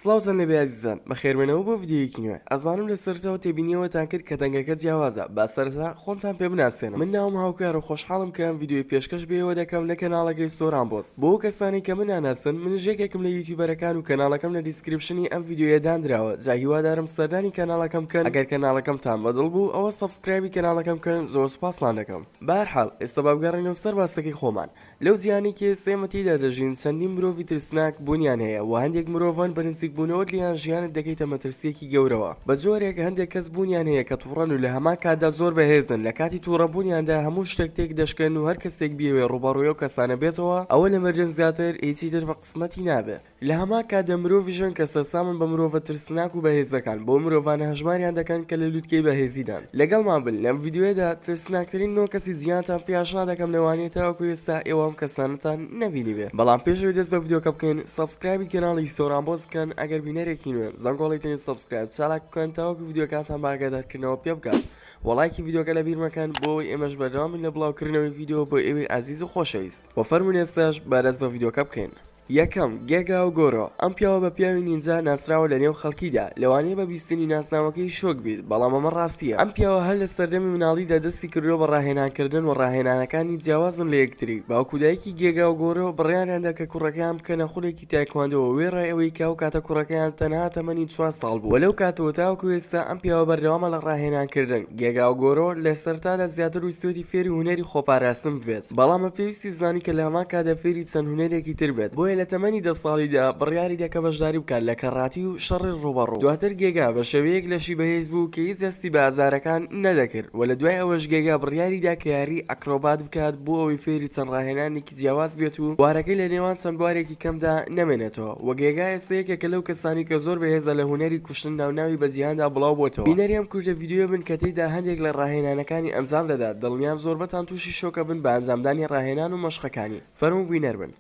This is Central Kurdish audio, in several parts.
سڵاوزان لە بەزیزان بەخێرمێنەوە بۆ ڤیددیوەکی نوێ ئەزانم لە سەرەوە تێبینیەوەتان کرد کە دەنگەکە جیاوازە با سەرتا خۆمتان پێ بناسێنم من ناوم هاوکار و خۆشحاڵم کە ئەم ڤیددیوی پێشکەش بێەوە دەکەم لە کەناڵەکەی سۆران بۆس بۆ ئەو کەسانەی کە من ناناسن منیش یەکێکم لە یوتیوبەرەکان و کەناڵەکەم لە دیسکریپشنی ئەم ڤیدیۆیە داندراوە جا هیوادارم سەردانی کەناڵەکەم بکەن ئەگەر کەناڵەکەمتان بە دڵ بوو ئەوە سەبسکرایبی کەناڵەکەم بکەن زۆر سوپاستان دەکەم بەهەرحاڵ ئێستا با بگەڕێینەوە سەر باسەکەی خۆمان لەو جیهانەی کە ئێستا ئێمە تێیدا دەژین چەندین مرۆڤی ترسناک بوونیان هەیە وە هەندێک مرۆڤن بە نزیک بوونەوەت لێیان ژیانت دەکەیتە مەترسیەکی گەورەوە بە جۆرێک هەندێک کەس بوونیان هەیە کە توڕەن و لە هەمان کاتدا زۆر بەهێزن لە کاتی توڕە بوونیاندا هەموو شتێک تێک دەشکێن و هەر کەسێک بیەوێ ڕووبەڕووی ئەو کەسانە بێتەوە ئەوە لە مردن زیاتر هیچی تر بە قسمەتی نابێ لە هەمان کاتدا مرۆڤیش هەن کە سەرسامن بە مرۆڤە ترسناک و بەهێزەکان بۆ مرۆڤانە هەژماریان دەکەن کە لە لوتکەی بەهێزیدان لەگەڵمان بن لەم ڤیدیۆیەدا ترسناکترین نۆ کەسی جیهانتان پێ ئاشنا دەکەم لەوانەیە تاوەکو ئێستا ئێوە ئەم کەسانەتان نەبینیبێ بەڵام پێش ئەوەی دەست بە ڤیدیۆکە بکەین سەبسکرایبی کەناڵی سۆران بۆس بکەن ئەگەر بینەرێکی نوێن زەنگۆڵی تەنی سەبسکرایب چالاک بکەن تاوەکو ڤیدیۆکانتان بە ئاگادارکردنەوە پێ بگات وە ڵایکی ڤیدیۆکە لە بیر مەکەن بۆ ئەوەی ئێمەش بەردەوام بین لە بڵاوکردنەوەی ڤیدیۆ بۆ ئێوەی ئازیز و خۆشەویست وە فەرموون ئێستاش با دەست بە ڤیدیۆکە بکەین یەکەم، گێگا و گۆرۆ، ئەم پیاوە بە پیاوی نینجا ناسراوە لە نێو خەڵکیدا لەوانەیە بە سینی ناسناوەکەی شۆک بیت بەڵام ئەمە ڕاستیە ئەم پیاوە هەر لە سەردەمی مناڵیدا دەستی کردوە بە ڕاهێنان کردن وە ڕاهێنانەکانی جیاوازن لە یەکتری باوک و دایکی گێگا و گۆرۆ بڕیاریان دا کە کوڕەکەیان بکەنە خولێکی تایکواندۆ وە وێڕای ئەوەی کە ئەو کاتە کوڕەکەیان تەنها تەمەنی چوار ساڵ بوو وە لەو کاتەوە تاوەکو ئێستا ئەم پیاوە بەردەوامە لە ڕاهێنان کردن گێگا و گۆرۆ لە سەرتادا زیاتر ویستوەتی فێری هونەری خۆپاراستن ببێت. بەڵام بە پێویستی زانی کە لە هەمان کاتدا فێری چەند هونەرێکی تر بێت، بۆیە لە تەمەنی دە ساڵیدا بڕیاری دا کە بەشداری بکات لە کەڕاتی و شەڕی ڕووبەڕوو، دواتر گێگا بە شێوەیەک لەشی بەهێز بوو کە هیچ هەستی بە ئازارەکان نەدەکرد و لە دوای ئەوەش گێگا بڕیاری دا کە یاری ئەکرۆبات بکات بۆ ئەوەی فێری چەند ڕاهێنانێکی جیاواز بێت و بوارەکەی لە نێوان چەند بوارێکی کەمدا نەمێنێتەوە و گێگا ئێستا یەکێکە لەو کەسانەی کە زۆر بەهێزە لە هونەری کوشتن ناو ناوی بە جیهاندا بڵاو بۆتەوە بینەری ئەم کورتە ڤیدیۆیە بن کە تێیدا هەندێک لە ڕاهێنانەکانی ئەنجام دەدات دڵنیام زۆربەتان تووشی شۆک ئەبن بە ئەنجامدانی ڕاهێنان و مەشقەکانی. فەرموو بینەر بن.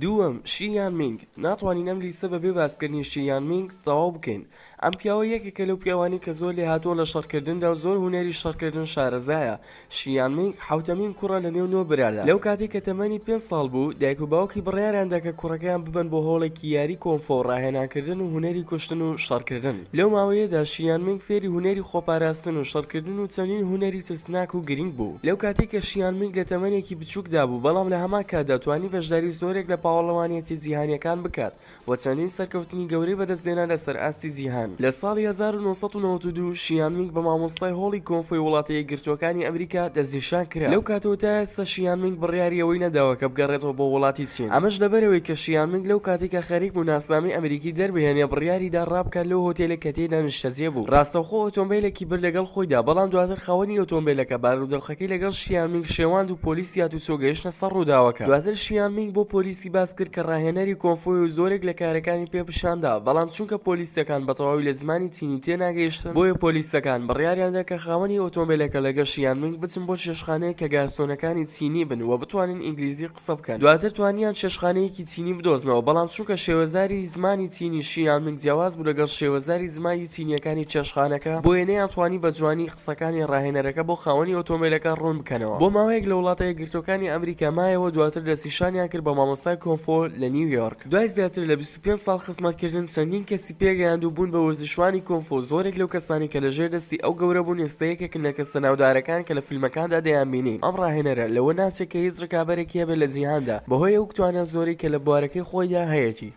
دووەم، شی یان مینگ، ناتوانین ئەم لیستە بەبێ باسکردنی شی یان مینگ تەواو بکەین. ئەم پیاوە یەکێکە لەو پیاوانەی کە زۆر لێهاتووە لە شەڕکردندا و زۆر هونەری شەڕکردن شارەزایە. شیان مینگ حەوتەمین کوڕە لەنێو نۆ برادا، لەو کاتەی کە تەمەنی پێنج ساڵ بوو، دایک و باوکی بڕیاریان دا کە کوڕەکەیان ببەن بۆ هۆڵێکی یاری کۆنفۆ و ڕاهێنانکردن و هونەری کوشتن و شەڕکردن. لەو ماوەیەدا شیان مینگ فێری هونەری خۆپاراستن و شەڕکردن و چەندین هونەری ترسناک و گرنگ بوو. لەو کاتەی کە شیان مینگ لە تەمەنێکی بچووکدا بوو، بەڵام لە هەمان کاتدا توانی بەشداری زۆرێک لە پاوەڵەوانیەتیە جیهانیەکان بکات، و چەندین سەرکەوتنی گەورەی بەدەستهێنا لەسەر ئاستی جیهان. لە ساڵی هەزار و نۆ سەد و نەوەد و دوو شیان مینگ بە مامۆستای هۆڵی کۆنفۆی وڵاتە یەکگرتووەکانی ئەمریکا دەستنیشان کرا. لەو کاتەوە تا ئێستا شیان مینگ بڕیاری ئەوەی نەداوە کە بگەڕێتەوە بۆ وڵاتی چین. ئەمەش لەبەرئەوەی کە شیان مینگ لەو کاتەی کە خەریک بوو ناسنامەی ئەمریکی دەربهێنێ بڕیاری دا ڕابکات لەو هۆتێلەی کە تێیدا نیشتەجێ بوو. ڕاستەوخۆ ئۆتۆمبێلێکی برد لەگەڵ خۆیدا بەڵام دواتر خاوەنی ئۆتۆمبێلەکە بارودۆخەکەی لەگەڵ شیان مینگ شێواند و پۆلیس هاتوچۆ گەیشتە سەر ڕووداوەکە. دواتر شیان مینگ بۆ پۆلیس. ی باس کرد کە ڕاهێنەری کۆنفوی و زۆرێک لە کارەکانی پێ پیشان دا بەڵام چونکە پۆلیسەکان بە تەواوی لە زمانی چینی تێ ناگەیشتن بۆیە پۆلیسەکان بڕیاریان دا کە خاوەنی ئۆتۆمبێلەکە لە گەش یان مینگ بچن بۆ چێشتخانەیەک کە گارسۆنەکانی چینی بن و بتوانن ئینگلیزی قسە بکەن دواتر توانیان چێشتخانەیەکی چینی بدۆزنەوە بەڵام چونکە شێوەزاری زمانی چینی شی یان مینگ جیاواز بوو لەگەڵ شێوەزاری زمانی چینیەکانی چێشتخانەکە بۆیە نەیان توانی بە جوانی قسەکانی ڕاهێنەرەکە بۆ خاوەنی ئۆتۆمبێلەکە ڕوون بکەنەوە. بۆ ماوەیەک لە وڵاتە یەکگرتووەکانی ئەمریکا مایەوە، دواتر دەستنیشانیان کرد بە مامۆستای کۆنفۆ لە نیویۆرک. دوای زیاتر لە بیست و پێنج ساڵ خزمەتکردن، چەندین کەسی پێگەیاند و بوون بە وەرزشوانی کۆنفۆ، زۆرێک لەو کەسانەی کە لەژێر دەستی ئەو گەورە بوون ئێستا یەکێکن لە کەسە ناودارەکان کە لە فیلمەکاندا دەیانبینین، ئەم ڕاهێنەرە لەوە ناچێت کە هیچ ڕکابەرێکی هەبێت لە جیهاندا بەهۆی ئەو توانە زۆرەی کە لە بوارەکەی خۆیدا هەیەتی.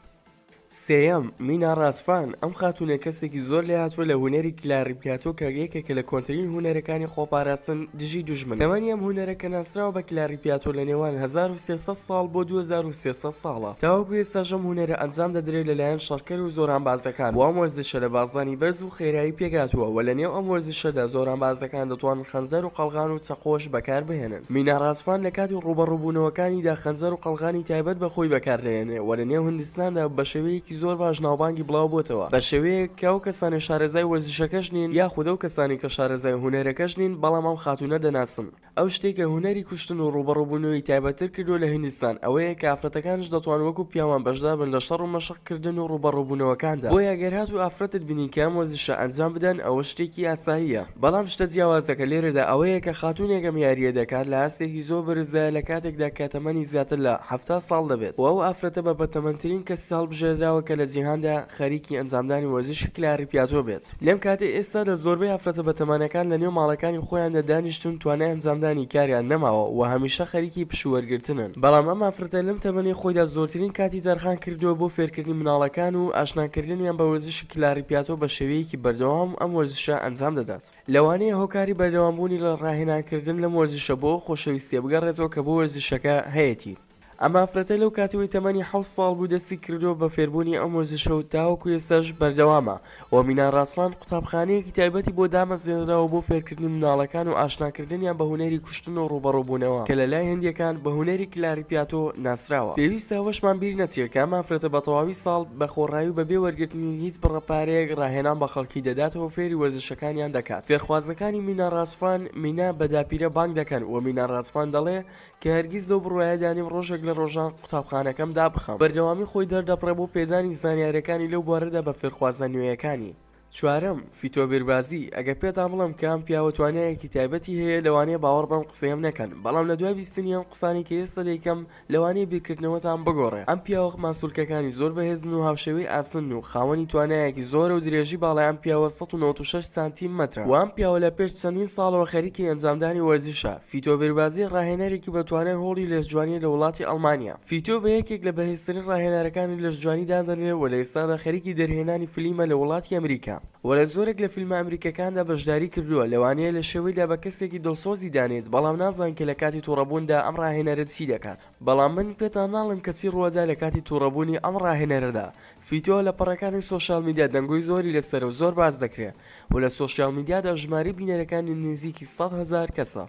سێیەم، مینا ڕاسفان، ئەم خاتوونە کەسێکی زۆر لێهاتووە لە هونەری کلاریپیاتۆ کە یەکێکە لە کۆنترین هونەرەکانی خۆپاراستن دژی دوژمن. تەمەنی ئەم هونەرە کە ناسراوە بە کلاریپیاتۆ لە نێوان هەزار و سێ سەد ساڵ بۆ دوو هەزار و سێ سەد ساڵە. تاوەکو ئێستاش ئەم هونەرە ئەنجام دەدرێت لە لایەن شەڕکەر و زۆرانبازەکان و ئەم وەرزشە لە بازدانی بەرز و خێرایی پێکهاتووە و لە نێو ئەم وەرزشەدا زۆرانبازەکان دەتوانن خەنجەر و قەڵغان و چەقۆش بەکار بهێنن. مینا ڕاسپان لە کاتی ڕووبەڕووبوونەوەکانیدا خەنجەر و قەڵغانی تایبەت بە خۆی بەکاردەهێنێ و لە نێو هندستاندا بە شێوەیەکی زۆر باش ناوبانگی بڵاوبۆتەوە بە شێوەیەک کە ئەو کەسانەی شارەزای وەرزشەکەش نین یاخود ئەو کەسانەی کە شارەزای هونەرەکەش نین بەڵام ئەم خاتوونە دەناسن ئەو شتەی کە هونەری کوشتن و ڕووبەڕووبوونەوەی تایبەتتر کردووە لە هندستان ئەوەیە کە ئافرەتەکانیش دەتوان وەکو پیاوان بەشدار بن لە شەڕ و مەشق کردن و ڕووبەڕووبوونەوەکاندا بۆیە گەر هاتوو ئافرەتت بینی کە ئەم وەرزشە ئەنجام بدەن ئەوە شتێکی ئاساییە بەڵام شتە جیاوازەکە لێرەدا ئەوەیە کە خاتوونێک ئەم یارییە دەکات لە ئاستێکی زۆر بەرزدایە لە کاتێکدا کە تەمەنی زیاتر لە حەفتا ساڵ دەبێت و ئەو ئافرەتە بە بەتەمەنترین کەسی هەڵبژێردراوە کە لە جیهاندا خەریکی ئەنجامدانی وەرزشی کلاری پیاتۆ بێت لەم کاتی ئێستادا زۆربەی ئافرەتە بەتەمەنەکان لە نێو ماڵەکانی خۆیاندا دانیشتوون توانای ئەنجامدانی کاریان نەماوە و هەمیشە خەریکی پشوو وەرگرتنن بەڵام ئەم ئافرەتە لەم تەمەنەی خۆیدا زۆرترین کاتی تەرخان کردووە بۆ فێرکردنی منداڵەکان و ئاشناکردنیان بە وەرزشی کلاری پیاتۆ بە شێوەیەکی بەردەوام ئەم وەرزشە ئەنجام دەدات، لەوانەیە هۆکاری بەردەوامبوونی لە ڕاهێنانکردن لەم وەرزشە بۆ ئەو خۆشەویستییە بگەڕێتەوە کە بۆ وەرزشەکە هەیەتی، ئەم ئافرەتە لەو کاتەوەی تەمەنی حەوت ساڵ بوو دەستی کردووە بە فێربوونی ئەم وەرزشە و تاوەکو ئێستاش بەردەوامە و مینا ڕاسمان قوتابخانەیەکی تایبەتی بۆ دامەزرێنراوە بۆ فێرکردنی منداڵەکان و ئاشناکردنیان بە هونەری کوشتن و ڕووبەڕووبوونەوە کە لە لای هندییەکان بە هونەری کلاریپیاتۆ ناسراوە. پێویستە ئەوەشمان بیر نەچێت کە ئەم ئافرەتە بە تەواوی ساڵ بە خۆڕایی و بە بێ وەرگرتنی هیچ بڕە پارەیەک ڕاهێنان بە خەڵکی دەدات و فێری وەرزشەکانیان دەکات. فێرخوازەکانی مینا ڕاسفان، Mina، بە داپیرە بانگ دەکەن و مینا ڕاسفان دەڵێ کە هەرگیز لەو بڕوایەدا نیم ڕۆژێک لە ڕۆژان قوتابخانەکەم دابخەم. بەردەوامی خۆی دەردەبڕێ بۆ پێدانی زانیارییەکانی لەو بوارەدا بە فێرخوازە نوێیەکانی. چوارەم، فیتۆبیربازی، ئەگەر پێتان بڵێم کە ئەم پیاوە توانایەکی تایبەتی هەیە لەوانەیە باوەڕ بەم قسەیەم نەکەن بەڵام لە دوای بیستنی ئەم قسانەی کە ئێستا دەیکەم لەوانەیە بیرکردنەوەتان بگۆڕێ ئەم پیاوە ماسولکەکانی زۆر بەهێزن و هاوشێوەی ئاسنن و خاوەنی توانایەکی زۆرە و درێژی باڵای ئەم پیاوە سەد و نەوەت و شەش سانتی مەترە وە ئەم پیاوە لە پێش چەندین ساڵەوە خەریکی ئەنجامدانی وەرزشە فیتۆبیربازی ڕاهێنەرێکی بە توانای هۆڵی لێسجوانیە لە وڵاتی ئەڵمانیا. فیتۆ بە یەکێک لە بەهێزترین ڕاهێنەرەکانی لەشجوانی دادەنرێت و لە ئێستادا خەریکی دەرهێنانی فلیمە لە وڵاتی ئەمریکا و لە زۆرێک لە فیلمە ئەمریکیەکاندا بەشداری کردووە لەوانەیە لە شێوەیدا بە کەسێکی دڵسۆزی دانێت بەڵام نازان کە لە کاتی توڕەبووندا ئەم ڕاهێنەرە چی دەکات بەڵام من پێتان ناڵێم کە چی ڕووەدا لە کاتی توڕەبوونی ئەم ڕاهێنەرەدا فیتۆ لە پەڕەکانی سۆشیال میدیا دەنگۆی زۆری لەسەرە و زۆر باس دەکرێت و لە سۆشیال میدیادا ژمارەی بینەرەکانی نزیکی سەد هەزار کەسە.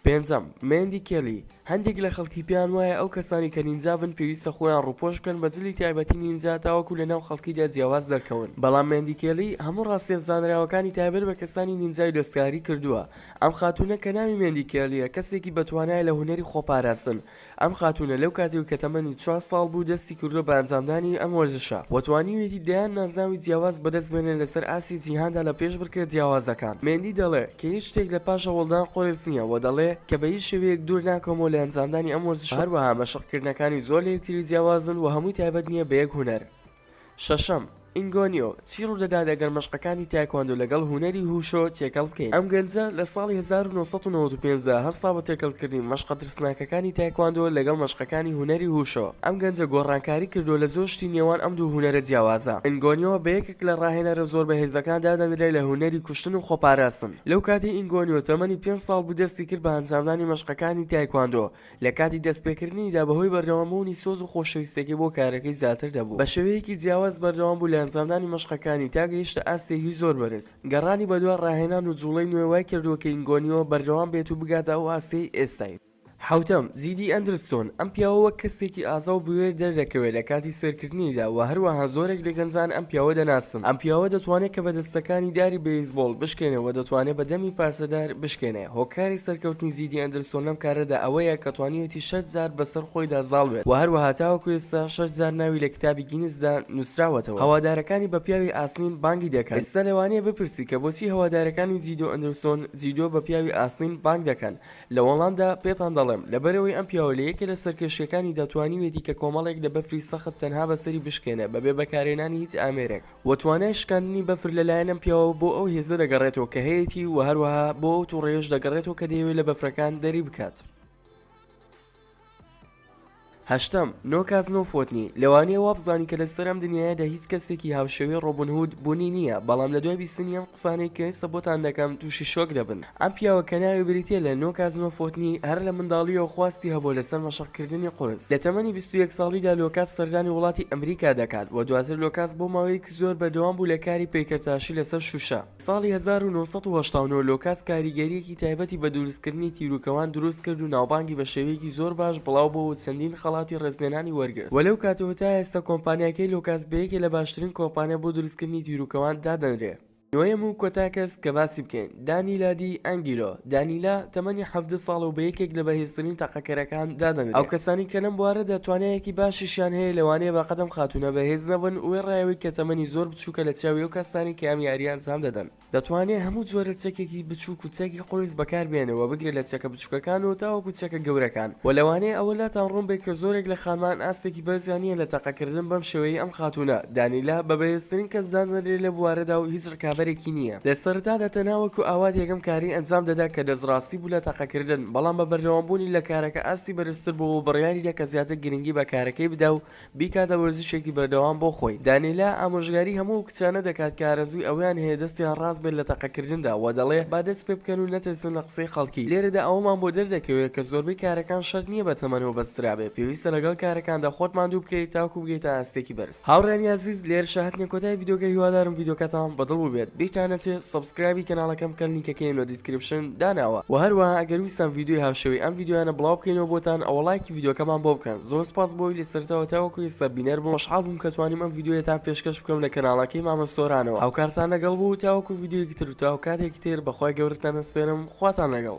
پێنجەم، مێندی کێلی، هەندێک لە خەڵکی پێیان وایە ئەو کەسانەی کە نینجابن پێویستە خۆیان ڕووپۆش بکەن بە جلی تایبەتی نینجا تاوەکو لەناو خەڵکیدا جیاواز دەرکەون بەڵام مێندی کێلی هەموو ڕاستیە زانراوەکانی تایبەت بە کەسانی نینجای دەستکاری کردووە ئەم خاتوونە کە ناوی مێندی کێلیە کەسێکی بەتوانایە لە هونەری خۆپاراستن ئەم خاتوونە لەو کاتەوەی کە تەمەنی چوار ساڵ بوو دەستی کردووە بە ئەنجامدانی ئەم وەرزشە و توانیویەتی دەیان نازناوی جیاواز بەدەست بێنێت لەسەر ئاستی جیهاندا لە پێشبڕکێ جیاوازەکان. مێندی دەڵێ کە هیچ شتێک لە پاش هەوڵدان قورس نییە و دەڵێ کە بە هیچ شێوەیەک دوور ناکەومەوە لە ئەنجامدانی ئەم وەرزشە و هەروەها مەشقکردنەکانی زۆر لە یەکتری جیاوازن و هەمووی تایبەت نییە بە یەک هونەر. شەشەم، ئینگۆنیۆ، چی ڕوودەدات ئەگەر مەشقەکانی تایکواندۆ لەگەڵ هونەری هوشۆ تێکەڵ بکەین؟ ئەم گەنجە لە ساڵی هەزار و نۆ سەد و نەوەد و پێنج دا هەستا بە تێکەڵکردنی مەشقە ترسناکەکانی تایکواندۆ لەگەڵ مەشقەکانی هونەری هوشۆ. ئەم گەنجە گۆڕانکاری کردووە لە زۆر شتی نێوان ئەم دوو هونەرە جیاوازە. ئینگۆنیۆ بە یەکێک لە ڕاهێنەرە زۆر بەهێزەکان دادەنرێت لە هونەری کوشتن و خۆپاراستن. لەو کاتەی ئینگۆنیۆ تەمەنی پێنج ساڵ بوو دەستی کرد بە ئەنجامدانی مەشقەکانی تایکواندۆ، لە کاتی دەستپێکردنیدا بەهۆی بەردەوامبوونی سۆز و خۆشەویستیەکەی بۆ کارەکەی زیاتر دەبوو، بە شێوەیەکی جیاواز بەردەوام بوو لە ئەنجامدانی مەشقەکانی تا گەیشتە ئاستێکی زۆر بەرز، گەڕانی بەدوا ڕاهێنان و جوڵەی نوێ وای کردووە کە ئینگۆنیۆ بەردەوام بێت و بگاتە ئەو ئاستەی ئێستای. حەوتەم، جیدی ئەندرستۆن، ئەم پیاوە وەک کەسێکی ئازا و بوێر دەردەکەوێت لە کاتی سەیرکردنیدا، وە هەروەها زۆرێک لە گەنجان ئەم پیاوە دەناسن، ئەم پیاوە دەتوانێت کە بە دەستەکانی داری بەیسبۆڵ بشکێنێ وە دەتوانێت بە دەمی پارچەدار بشکێنێ. هۆکاری سەرکەوتنی زیدی ئەندرسۆن لەم کارەدا ئەوەیە کە توانیوێتی شەش جار بەسەر خۆیدا زاڵ بێت و هەروەها تاوەکو ئێستا شەش جار ناوی لە کتابی گینسدا نووسراوەتەوە هەوادارەکانی بە پیاوی ئاسنین بانگی دەکەن ئێستا لەوانەیە بپرسی کە بۆچی هەوادارەکانی جیدۆ ئەندرسۆن جیدۆ بە پیاوی ئاسنین بانگ دەکەن لە وەڵامدا پێتان دەڵێم لەبەرئەوەی ئەم پیاوە لە یەکێ لە سەرکێشییەکانیدا توانیوێتی کە کۆمەڵێک لە بەفری سەخت تەنها بەسەری بشکێنێ بەبێ بەکارهێنانی هیچ ئامێرێک. وە توانای شکاندنی بەفر لە لایەن ئەم پیاوە بۆ ئەو هێزە دەگەڕێتەوە کە هەیەتی وە هەروەها بۆ ئەو توڕەیەش دەگەڕێتەوە کە دەیەوێت لە بەفرەکان دەری بکات. هەشتەم، نۆ کاس نۆ فۆتنی، لەوانەیە وابزانین کە لەسەر ئەم دنیایەدا هیچ کەسێکی هاوشێوەی ڕۆبن هود بونی نیە بەڵام لەدوای بیستنی ئەم قسانەی کە ئێستا بۆتان دەکەم توشی شۆک دەبن، ئەم پیاوە کە ناوی بریتیە لە نۆ کازمە فۆتنی، هەر لە منداڵیەوە خواستی هەبووە لەسەر مەشق کردنی قورس. لە تەمەنی بیست و یەک ساڵیدا لۆکاس سەردانی وڵاتی ئەمریکا دەکات و دواتر لۆکاس بۆ ماوەیەکی زۆر بەردەوام بوو لە کاری پەیکەرتاشی لەسەر شوشە. ساڵی هەزار و نۆ سەد و هەشتا و نۆ لۆکاس کاریگەریەکی تایبەتی بە دروستکردنی تیروکەوان دروست کرد و ناوبانگی بە شێوەیەکی زۆر باش بڵاو بووە و چەندین خەڵاتی ڕێزلێنانی وەرگرت و لەو کاتەوە تا ئێستا کۆمپانیاکەی لۆکاس بە یەکێ لە باشترین کۆمپانیا بۆ دروستکردنی تیروکەوان دادەنرێ. نۆیەم و کۆتا کەس کە باسی بکەین، دانیلا دی ئەنگیلۆ، دانیلا، تەمەنی حەڤدە ساڵە و بە یەکێک لە بەهێزترین تەقەکەرەکان دادەنرێ. ئەو کەسانەی کە لەم بوارەدا توانایەکی باشیشیان هەیە لەوانەیە بەقەد ئەم خاتوونە بەهێز نەبن، وێڕای ئەوەی کە تەمەنی زۆر بچووکە لە چاوی ئەو کەسانەی کە ئەم یارییە ئەنجام دەدەن. دەتوانێ هەموو جۆرە چەکێکی بچووک و چەکی قورس بەکار بێنێ و بگرە لە چەکە بچوکەکان و تاوەکو چەکە گەورەکان وە لەوانەیە ئەوە لاتان ڕوون بێت کە زۆرێک لە خانمان ئاستێکی بەرزیان نیە لە تەقە کردن بەم شێوەیەی ئەم خاتوونە دانیلە بە بەهێزترین کەس دادەنرێت لە بوارەدا و هیچ ڕکابەرێکی نیە لە سەرەتادا تەنها وەکو ئاوات یەکەم کاری ئەنجام دەدا کە دەست ڕاستی بوو لە تەقە کردن بەڵام بە بەردەوام بوونی لە کارەکە ئاستی بەرزتر بووە و بڕیاری دا کە زیاتر گرنگی بە کارەکەی بدا و بیکاتە وەرزشێکی بەردەوام بۆ خۆی، دانیلا ئامۆژگاری هەموو ئەو کچانە دەکات کە ئارەزووی ئەوەیان هەیە دەستیان ڕاست بێت لە تەقەکردندا و دەڵێ با دەست پێ بکەن و نەترسن لە قسەی خەڵکی، لێرەدا ئەوەمان بۆ دەردەکەوێت کە زۆربەی کارەکان شەرت نییە بە تەمەنەوە بەسترابێت، پێویستە لەگەڵ کارەکاندا خۆت ماندوو بکەیت تاکوو بگەیتە ئاستێکی بەرز. هاوڕێیانی ئازیز لێرەشە هەتنە کۆتای ڤیدیۆکە هیوادارم ڤیدیۆکەتان بەدڵ بووبێت بیرتان نەچێت Subscribe سکرایبی کەناڵەکەم بکەن لینکەکەیم لە دیسکریپشن داناوە وە هەروەها ئەگەر ویستان ڤیدیۆی هاوشێوەی ئەم ڤیدیۆیانە بڵاو بکەینەوە بۆتان ئەوە ڵایکی ڤیدیۆکەمان بۆ بکەن زۆر سوپاس بۆی لە سەرەتاوە تاوەکو ئێستا بینەر بوون خۆشحاڵ بووم کە توانیم ئەم ڤیدیۆیەتان پێشکەش بکەم لە کەناڵەکەی مامە سۆرانەوە هاوکارتان لەگەڵ بوو تاوەکو ڤیدیۆیەکی تر و تا هۆکاتێکی تر بەخوای گەورەتان ئەسپێرم خواتان لەگەڵ.